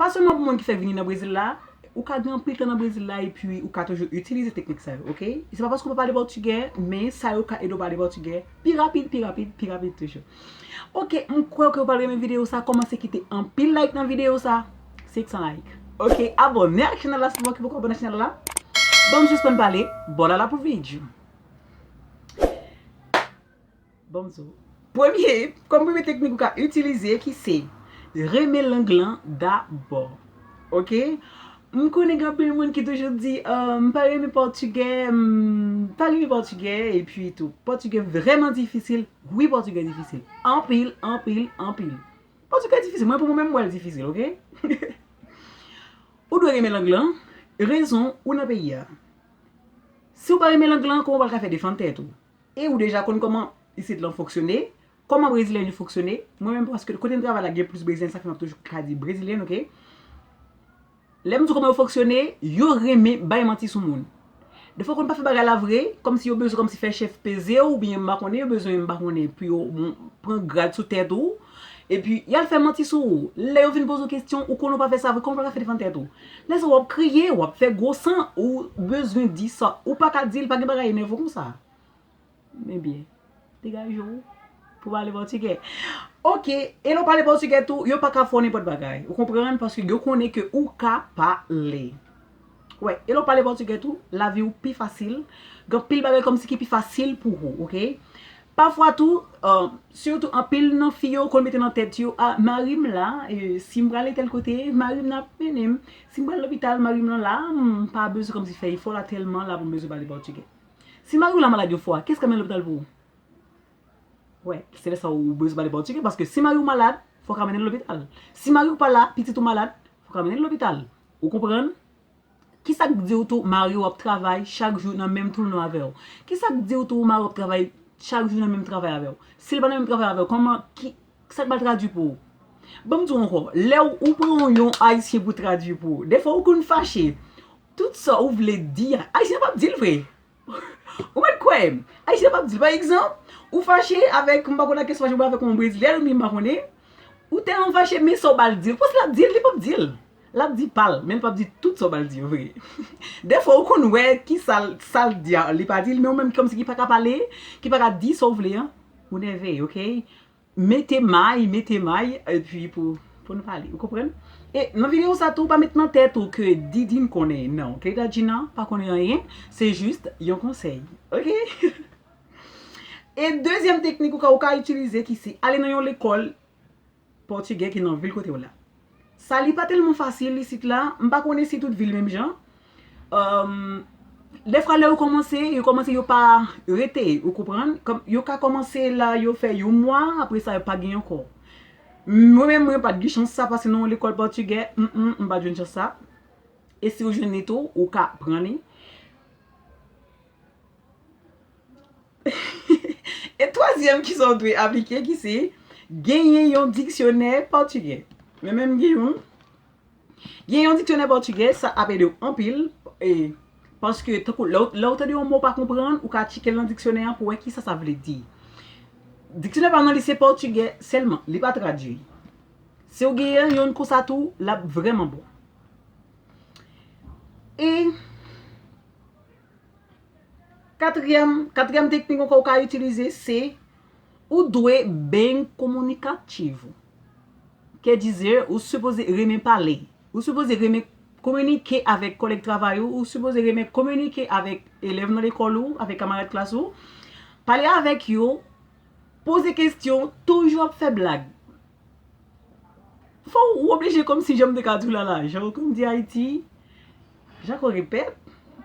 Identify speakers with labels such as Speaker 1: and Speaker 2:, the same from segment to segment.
Speaker 1: Pa sèlman pou moun ki fèk vini nan Brezil la, ou ka gen anpil tan nan Brezil la epi ou ka toujou itilize teknik sa yo, ok? Se pa paske ou pa pale pòtigè, men sa yo ka ede w pale pòtigè pi rapid, pi rapid, pi rapid toujou. Ok, m kwè ke ou pral renmen videyo sa, kòmanse kite anpil like nan videyo sa, 500 like. Ok, abòne ak chanèl la si ou pa poko abòne ak chanèl la. Banm sispann pale, bòlala pou vidyo. Premye, kòm premye teknik ou ka itilize ki se, renmen lang lan dabò. Ok? M konnen gen anpil moun ki toujou di, m pa renmen pòtigè, m pa renmen pòtigè, epi tou, pòtigè vrèman difisil. Wi pòtigè difisil. Anpil, anpil, anpil. Pòtigè difisil. Mwen pou mwen menm m wè l difisil, ok? Ou dwe renmen lang lan, rezon ou nan peyi a. Si ou pa renmen lang lan, kòman w pral ka fè defann tèt ou? E ou deja konn kòman isit lan fonksyone, kòman brezilyen yo fonksyone, mwen menm paske kote m travay la gen plis brezilyen sa fè m ap toujou ka di brezilyen ok. Lè m di w kòman yo fonksyone, yo renmen bay manti sou moun. Defwa konn pa fè bagay la vre, kòmsi yo bezwen kòmsi fè chèf peze w oubyen m pa konnen yo bezwen m pa konnen pou yo pran grad sou tèt ou. Epi, y al fè manti sou ou. Lè yo vin poze w kesyon, ou konnen w pa fè sa vre, kòman w pral fè defann tèt ou? Lè sa w ap kriye, w ap fè gwo san, ou bezwen di sa ou pa ka di l, pa gen bagay enèvan konsa. Ebyen, degaje w pou w pale pòtigè. Ok, e lè w pale pòtigè tou, yo pa ka fè w nenpòt bagay. Ou konprann? Paske yo konnen ke ou ka pale. Wè, e lè w pale pòtigè tou, lavi w pi fasil. Gen anpil bagay kòmsi ki pi fasil pou ou, ok? Pafwa tou, sitou anpil nan fi yo konn mete nan tèt yo, a, mari m la, si m prale tèl kote, mari m nan ap mennen m, si m pral lopital, mari m nan la, m pa bezwen kòmsi fè efò la tèlman la pou m bezwen pale pòtigè. Si mari w la malad yon fwa, kiyès k ap mennen l lopital pou ou? Wè, se lè sa w bezwen pale pòtigè, paske si mari w malad, fò w ka mennen l lopital. Si mari w pa la, pitit ou malad, fò w ka mennen l lopital. Ou konprann? Kisa k diw tou mariw ap travay chak jou nan menm toulon avèw? Kisa k diw tou mariw ap travay chak jou nan menm travay avèw? Sil pa nan menm travay avèw kòman ki sak pral tradwi pou ou? Banm diw ankò, lè ou pran yon ayisyen pou tradwi pou ou, dèfwa ou konn fache. Tout sa ou vle di a, ayisyen an pap dil vre. Ou mèt kwè m. Ayisyen pap di l. Pa egzanp, ou fache avèk, m pa konn ak ki fache, avèk yon brezilyen oubyen m pa konnen, ou tèlman fache men sa w ba l di l, pwès l ap di l, li pap di l. L ap di pa l, men l pap di tout sa w ba l di yo vre. Dèfwa ou konn wè ki sa l, sa l di a, li pa di l men ou menm kòmsi ki pa ka pale, ki pa ka di sa w vle an, ou nève, ok. Mete may, mete may epi pou pou nou pale ou konprann? E nan video sa tou pa met nan tèt ou ke Didine konnen nan ke Dadjina pa konnen anyen se jis yon konsèy ok E dezyèm teknik ou ka ou ka itilize ki se ale nan yon lekòl pòtigè ki nan vil kote w la Sali pa tèlman fasil isit la, m pa konnen si tout vil menm jan. Dèfwa lè yo kòmanse, yo kòmanse yo pa rete, ou konprann? Kòm yo ka kòmanse la, yo fè yon mwa, apre sa yo pa gen ankò. Mwen menm mwen pa t gen chans sa pase nan yon lekòl pòtigè, m pa t jwenn chans sa. E si ou jwenn li tou, ou ka pran li. E twazyèm ki sa w dwe aplike ki se genyen yon diksyonè pòtigè. Mwen menm m gen youn. Genyen yon diksyonè pòtigè sa ap ede w anpil e paske tankou lè w tande yon mo w pa konprann ou ka tcheke l nan diksyonè an pou w wè kisa sa vle di. Diksyonè pa m nan li se pòtigè sèlman, li pa tradui. Si w genyen youn konsa tou l ap vrèman bon. E. Katriyèm, katriyèm teknik ankò ou ka itilize se, ou dwe beny kominikativ ou. Kè dizè, ou sipoze renmen pale, ou sipoze renmen kominike avèk kòlèg travay ou, ou sipoze renmen kominike avèk elèv nan lekòl ou, avèk kamarad klas ou. Pale avèk yo, poze kestyon, toujou ap fè blag. Fò ou oblije kòmsi janm te ka di w la la jan ou konn di Ayiti jan kò gen pèp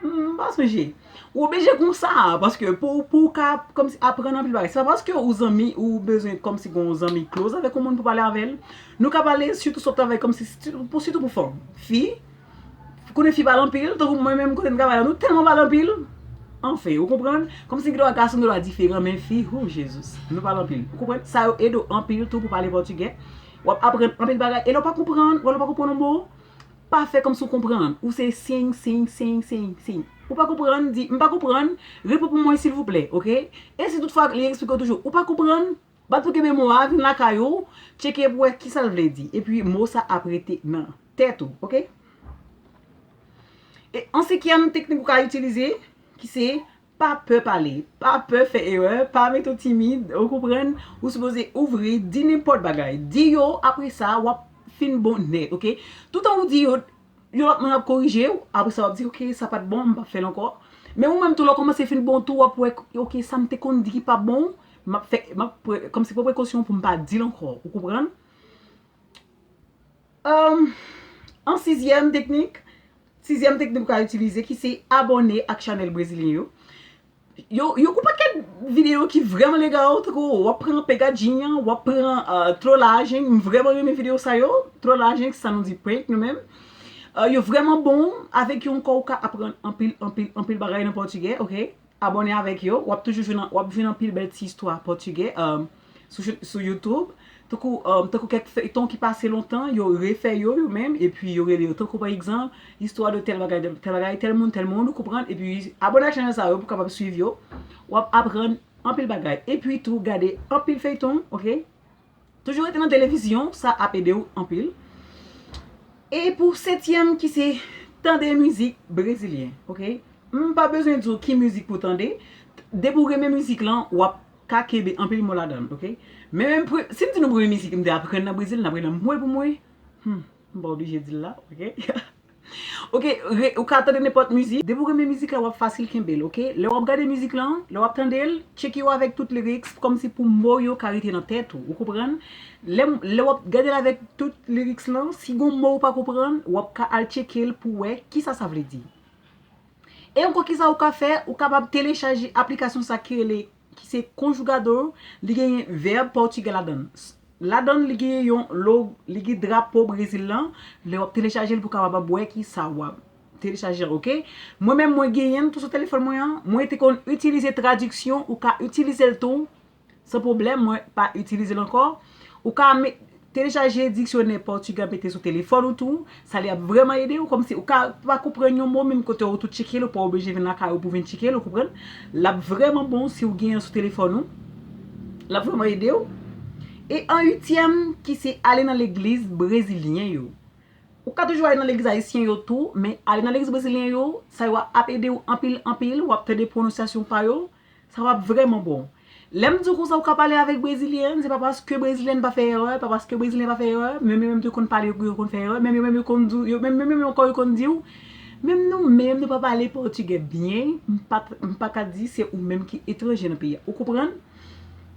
Speaker 1: m pa sonje ou oblije konsa paske pou ou ka kòmsi aprann anpil bagay se pa paske ou zanmi ou bezwen kòmsi gen yon zanmi close avèk yon moun pou pale avè l nou ka pale sitou sou travay kòmsi sitou pou fòm fi konnen fi pale anpil, tankou mwen menm kote m travay la nou tèlman pale anpil, anfen ou konprann, kòmsi gen dwa gason gen dwa diferan men fi hoo Jesus nou pale anpil ou konprann, sa yo ede w anpil tou pou pale pòtigè, w ap aprann anpil bagay e lè w pa konprann, wè lè w pa konprann yon mo, pa fè kòmsi w konprann, ou se sing sing sing sing sing, ou pa konprann di m pa konprann, repete pou mwen silvouplè ok, e si tout fwa li eksplike w toujou ou pa konprann. Bat pou kenbe mo a, vin lakay ou, tcheke pou wè kisa l vle di. Epi mo sa ap rete nan tèt ou, ok? E an senkyèm teknik ou ka itilize, ki se, pa pè pale, pa pè fè erè, pa mete w timid, ou konprann? Ou sipoze ouvri, di nenpòt bagay. Di yo, apre sa, w ap fin bonè, ok? Toutan ou di yo. Yon lòt moun ap korije ou, apre sa w ap di ok sa pat bon m pap fè l ankò. Men ou menm tou lè w kòmanse fin bon tou w ap wè ok sa m te konn di ki pa bon m ap fè m ap kòmsi pran prekosyon pou m pa di l ankò ou konprann. An sizyèm teknik, sizyèm teknik ou ka itilize ki se abòne ak chanèl brezilyen yo. Yo kou paket video ki vreman legal tankou wap pran an pegajing an wap pran an tro lajing m vreman renmen video sa yo tro lajing sa nou di prank nou menm yo vreman bon avek yon kò ou ka aprann anpil anpil anpil bagay nan pòtigè ok abòne avek yo wap toujou jwenn wap jwenn anpil bèl ti istwa pòtigè. sou youtube tankou tankou kèk feyton ki pase lontan yo refè yo yo menm epi yo rele yo tankou pa egzanp istwa de tèl bagay tèl bagay tèl moun tèl moun ou konprann epi abone ak chanèl sa yo pou kapab swiv yo wap aprann anpil bagay epi tou gade anpil feyton ok toujou rete nan televizyon sa ap ede ou anpil e pou setyèm ki se tande mizik brezilyen ok m pa bezwen di w ki mizik pou tande depi w renmen mizik lan wap ka kenbe anpil mo ladan l ok. Men menm pre, si m di nou premye mizik m te aprann nan Brezil, n ap rele m mwen pou mwen. Hum, m pa oblije di l la ok. Ok, re, ou ka tande nenpòt mizik, depi w renmen mizik la w ap fasil kenbe l ok. Lè w ap gade mizik lan, lè w ap tande l, tcheke yo avèk tout lyrics kòmsi pou mo yo ka rete nan tèt ou, ou konprann. Lè m, lè w ap gade l avèk tout lyrics lan, si gon mo ou pa konprann, w ap ka al tcheke l pou wè kisa sa vle di. E ankò kisa ou ka fè, ou kapab telechaje aplikasyon sa ki rele ki se Conjugador, li genyen vèb pòtigè ladann. Ladann li genyen yon log, li gen drapo Brezil lan, lè wap telechajel pou kapab ap wè kisa wap telechaje an ok. Mwen menm mwen genyenl tou sou telefòn mwen an, mwen te konn itilize tradiksyon, ou ka itilizel tou San pwoblèm, mwen pa itilize l ankò. Ou ka telechaje diksyonè pòtigè mete sou telefòn ou tou. Sa li ap vrèman ede ou. Kòmsi ou ka pa konprann yon mo menm kote ou tou tcheke l, ou pa oblije vin lakay ou pou vin tcheke l, ou konprann. L ap vrèman bon si ou gen yon sou telefòn ou. L ap vrèman ede ou. E an uityèm ki se ale nan legliz brezilyen yo. Ou ka toujou ale nan legliz ayisyen yo tou, men ale nan legliz brezilyen yo, sa yo ap ede ou anpil anpil, w ap tande pwononsyasyon pa yo. Sa wap vreman bon. Lèm diw konsa ou ka pale avèk brezilyen an se pa paske brezilyen pa fè erè, pa paske brezilyen pa fè erè, menm yo menm tou konn pale pou yo konn fè erè, menm yo menm yo konn diw, yo menm yo menm ankò yo konn diw, menm nou menm nou pa pale pòtigè byen, m pa m pa ka di se ou menm ki etranje nan peyi a. Ou konprann?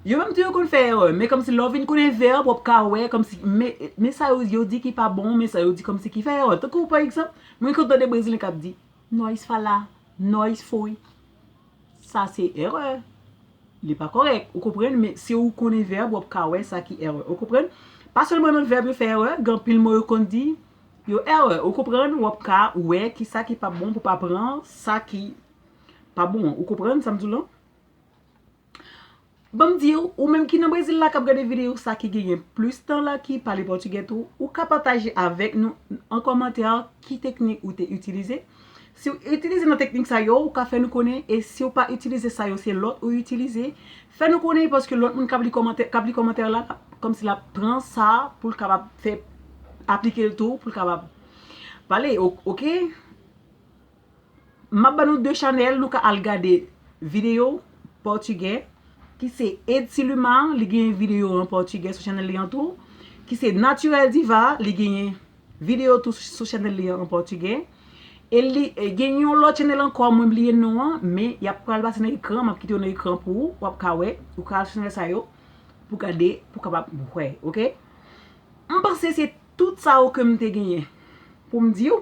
Speaker 1: Yo menm tou yo konn fè erè, men kòmsi lè w vin konnen verb wap ka wè kòmsi men men sa yo yo di ki pa bon, men sa yo di kòmsi ki fè erè. Tankou pa egzanp, mwen konn tande brezilyen kap di, Nós falar, nós foi. Sa se erè. Li pa kòrèk. Ou konprann? Men si ou konnen vèb, w ap ka wè sa ki erè. Ou konprann? Pa sèlman nan vèb yo fè erè, gen anpil mo yo konn di, yo erè. Ou konprann? W ap ka wè ki sa ki pa bon pou w pa pran sa ki pa bon an. Ou konprann sa m di w lan? Banm diw, ou menm ki nan Brezil la kap gade video sa ki genyen plis tan la ki pale pòtigè tou, ou ka pataje avèk nou an kòmantè ki teknik ou te itilize. Siw itilize nan teknik sa yo, ou ka fè nou konnen e siw pa itilize sa yo se lòt ou itilize, fè nou konnen paske lòt moun kap li kòmantè kap li kòmantè la lap kòmsi lap pran sa poul kapab fè aplikel tou poul kapab pale ok. Map ban nou 2 chanèl nou ka al gade video pòtigè ki se Edsiluma li gen video an pòtigè sou chanèl li an tou ki se Naturel Diva li genyen video tou sou chanèl li an pòtigè e li gen yon lòt chanèl ankò mwen bliye non an men yap pral pase nan ekran map kite yo nan ekran pou ou wap ka wè ou ka al sou chanèl sa yo pou gade pou kapab wè ok mpanse se tout sa yo kem te genyen poum diw.